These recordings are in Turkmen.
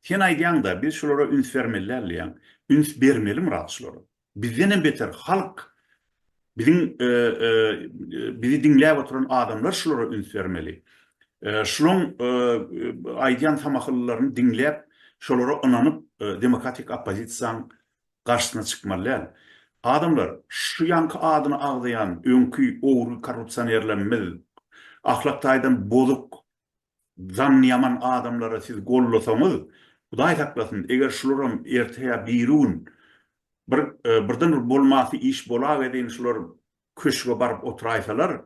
Sen aýdýaňda, biz şulara üns bermeli däl diýýäň. Üns bermeli Myrat şulara. Bizdenem beter halk, biziň bizi diňläp oturan adamlar şulara üns bermeli. Şulaň aýdýan samahyllylaryny diňläp, şolara ynanyp demokratik oppozisiýaň garşysyna çykmaly däl. Adamlar, şu ýaňky adyny agzaýan öňki ogry korrupsionerlerimiz, ahlak taýdan bozuk Jany ýaman adamlary siz gollasaňyz, Hudaý saklasyn, eger şularam erte ýa birigün bir birden bir bolmasy iş bolaga deýin şular köşge baryp oturaýsalar,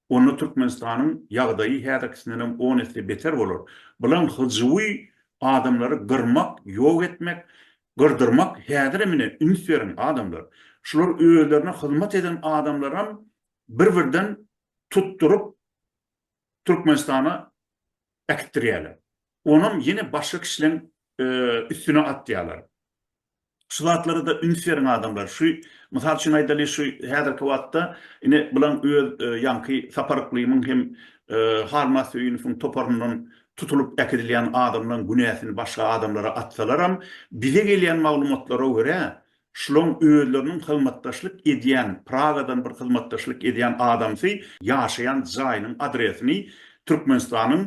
onda Türkmenistanyň ýagdaýy häzirkisindenem on esse beter bolar. Bulan hyjuwy adamlary gyrmak, ýok etmek, gyrdyrmak häzirem ine üns beriň adamlar. Şular özlerine hyzmat eden adamlaram bir birden tutduryp Türkmenistana äkitdirýärler. Onam ýene başga kişileň üstüne atýarlar. Şu zatlara-da üns beriň adamlar. Şu, mysal üçin aýdaly, şu häzirki wagtda ine bulan öz ýaňky Sapar Yklymyň hem Halmaz Söýünowyň toparyndan tutulyp äkidilýän adamlaň günäsini başga adamlara atsalaram, bize gelýän maglumatlara görä, Şloň özleriniň hyzmatdaşlyk edýän, Pragadan bir hyzmatdaşlyk edýän adamsy ýaşaýan jaýynyň adresini Türkmenistanyň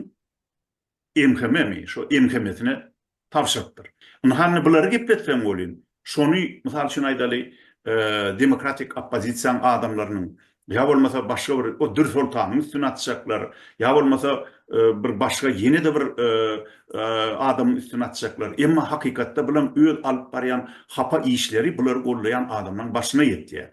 MHM-mi, şo MHM-sine tabşyrypdyr. Ynha indi bulary gepletseň welin, şony, mysal üçin aýdaly, demokratik oppozisiýaň adamlarynyň, Ýa bolmasa başga bir o Dür Soltanyň üstüne atjaklar, ýa bolmasa bir başga ýene-de bir adamyň üstüne atjaklar. Emma hakykatda bulam öz alyp barýan hapa işleri bulary gollaýan adamlaň başyna ýetýär.